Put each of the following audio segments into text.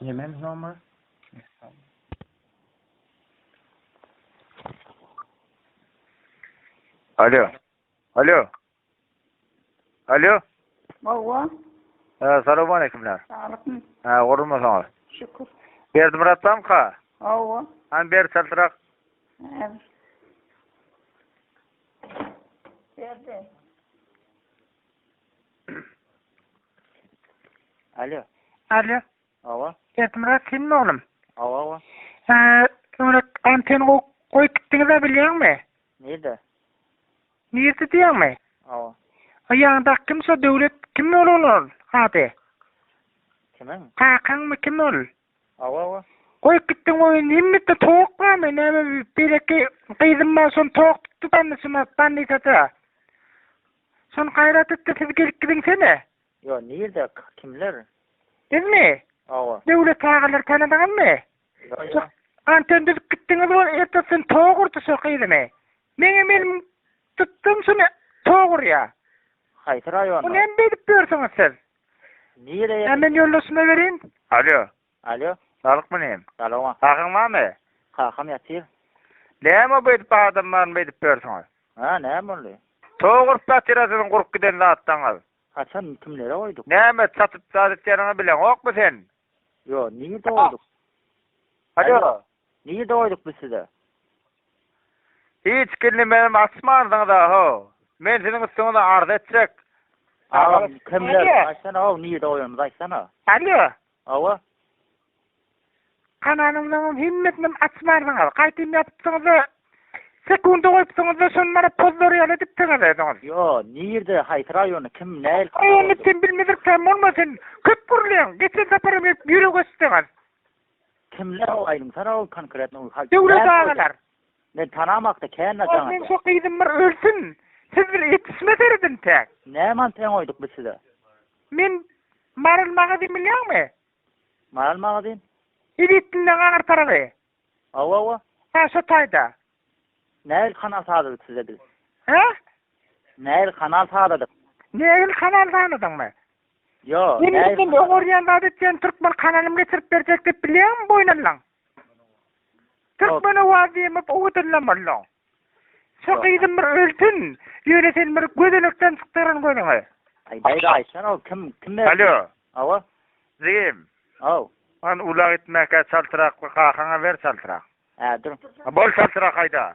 Nemen nomer? Alo. Alo. Alo. Hawa. Ee, salam aleykümler. Aleyküm. Ha, gorulma sana. Şükür. Berdi Murat tam ka? Hawa. Han ber saltırak. Evet. Berdi. Alo. Alo. Awa. Berdimurat senmi oglum? Awa awa. Ee, Murat anten goýup gitdiňiz-ä bilýäňmi? Nirde? Nirde diýýäňmi? Awa. O ýaňda kim şo döwlet kim ol ol ol ady? Kimiň? Kakaňmy kim ol? Awa awa. Goýup gitdiň oýun himmetde towuk barmy näme berekki gyzym bar şony towuk tutdy bandyçyma bandyçada şony gaýrat etdi siz gelip gidiňsene. Ýo nirde kimler? Bizmi? Awa. Döwlet agalar tanadyňyzmy? Ýo. Anten düzüp gitdiňiz ol ertesini towuk urdy şo gyzymy. Meňem elim tutdum şony towuk urýa. Haýsy raýonda? Ony hem bedip ýörsüňiz siz. Nireye? Hä men ýoldaşyma bereýin. Alýo. Alýo. Saglyk myn em. Salowa. Kakaň barmy? Kakam ýatyr. Näme bu edip adam barmy beýdip ýörsiňiz. Hä näme boldy? Tow gurup ýatyra siziň gurup giden zatlaňyz. Haçan kimlere goýduk? Näme satyp zat etýäniňi bileňokmy sen? Ýo nirede goýduk? Alýo. Nji doýduk biz size. Hiç kindi menem açmandyňyz a ho. Men siziň üstüňize arz etjek. Agam kimler aýtsana ho nji doýanymyzy aýtsana. Alýo. Awa. Kanalymyzyň hemmesinem açmandyňyz. Gaýtym ýapypsyňyz a sekunda goýupsyňyz a şony mana pozlar ýaly edipsiňiz özüňiz. Ýo nirde haýsy raýony kim näl. Raýony sen bilmedirkäm bolma sen köp gürleýiň geçen saparam gelip ýürek açdyňyz. Kimler o aýdymsana ol konkretno ol haýsy. Döwlet agalar. Men tanamakda kän naçan aýdýar. Meň şo gyzym bir ölsün. Siz bile ýetişme seredin täk. Näman teň oýduk biz size. Men Maral magazyn bilýäňmi? Maral magazyn? Edetinleň aňyr tarapy. Awa awa. Ha şo taýda. Nähili kanal sazladyk size biz? Hä? Nähili kanal sazladyk? Nähili kanal sazladyňmy? Yo. Indi sen öň görýän zady etýän türkmen kanalym geçirip berjek diýip bilýäňmi boýun allan? Türkmen owaz diýemok owadanlam allan. Şu gyzym bir ölsün. Ýöne sen bir gözelekden çykdyryn gözüňi. Aýdaýda Aýşan ol kim kim berdi? Alo. Awa. Jigim. Aw. Ony ulag etmäkä çaltrak bir kakaňa ber çaltrak. Hä dur. Bol çaltrak aýda.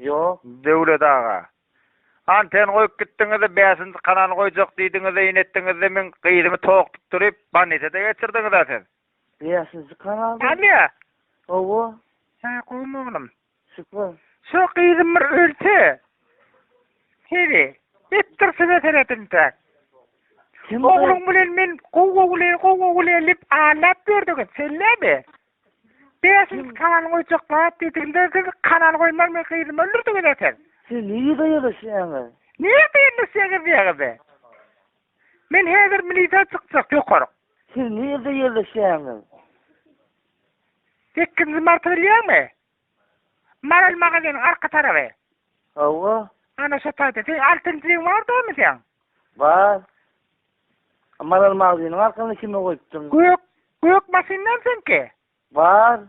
Ýo, Döwlet aga. Anten goýup gitdiňiz-de, bäşinji kanal goýjak diýdiňiz-de, ýene etdiňiz-de, meň gyzymy tok tutduryp, bannisada geçirdiňiz-ä siz. Bäşinji kanal? Alýo. Hawa. Hä, gowy mugalym. Şükür. Şo gyzym bir ölse, heri, etdir size seredinjek. Kim? Ogluň bilen men gowy-gowy, gowy-gowy lip aýlap ýördüňiz, sen näme? Beşinji kanal goýjaklar diýdigiler siz kanal goýmaz men gyzymy öldürdiňiz eken. Siz nirde ýerleşýäňiz? Nirde ýerleşýäňiz diýýäňiz. Men häzir milisiýa çykjak ýokaryk. Siz nirde ýerleşýäňiz? Sekizinji marty bilýäňmi? Maral magaziniň arka taraby. Hawa. Ana şo taýda. Seň altynjyň bar damy seň? Bar. Maral magaziniň arkasyna kime goýupdyň? Gök, gök maşyndan seňki? Bar.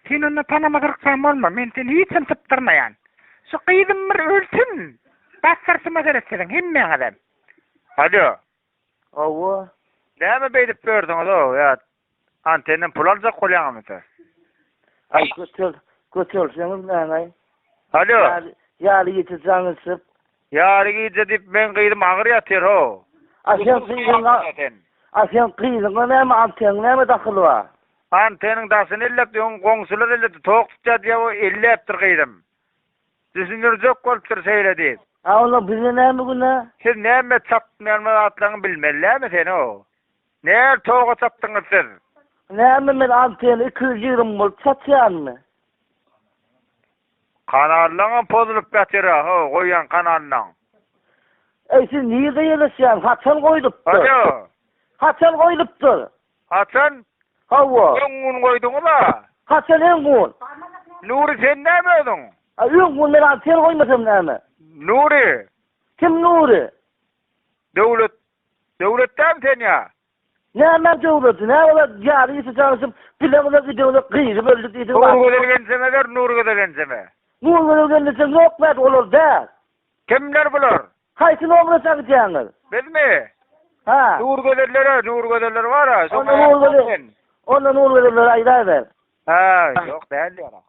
Sen onda tanama gyrksan bolma, men seni hiç hem sypdyrmaýan. Şu gyzym bir ölsün, basgyrsyma seret siziň hemmäňizem. Alo. Hawa. Näme beýdip ýörsüňiz-ow, ýa Antenden pul aljak bolýaňamy sen? Aý götel, götelseňiz näme? Alo. Ýaly, ýaly gije jaň içip. Ýaly gije diýip meň gyzym agyr ýatyr ho. A sen gyzyňa, a sen gyzyňa näme anteniň näme dahyly bar? Anteniň daşyny elläpdi, öň goňşular elläpdi, tok tutýar diýip o elläpdir gyzym. Düşündirjek bolupdyr şeýle diýip. A onda bize näme günä? Siz näme çapyp ýörmän zatlaryňy bilmeli dämi sen ho. Näl toga çatdyňyz siz? Näme men antena iki ýüz ýigrimi bolup çatýanmy? Kanallaňam pozulyp ýatyra ho goýýan kanallaň. Eý siz nirde ýerleşýäň haçan goýlupdyr? Alo. Haçan goýlupdyr? Haçan? Hawa. Öň gün goýduňyza? Haçan öň gün? Nury sen näme özüň? A öň gün men antena goýmasam näme? Nury. Kim Nury? Döwlet Döwlet däl sen ýa. Näme döwleti nä ola ýaly işe çalyşyp bile bile gidewde gyzy böldi diýdi. Nurgözel genjeme ber Nurgözel genjeme. Nurgözel genjeçem ýok bäş olar däl. Kimler bular? Haýsy nomraça gidýäňiz? Bizmi? Hä. Nurgözellere Nurgözeller bara şoňa. Onda Nurgözel Onda Nurgözelleri aýdaýber. Hä ýok däl ýa.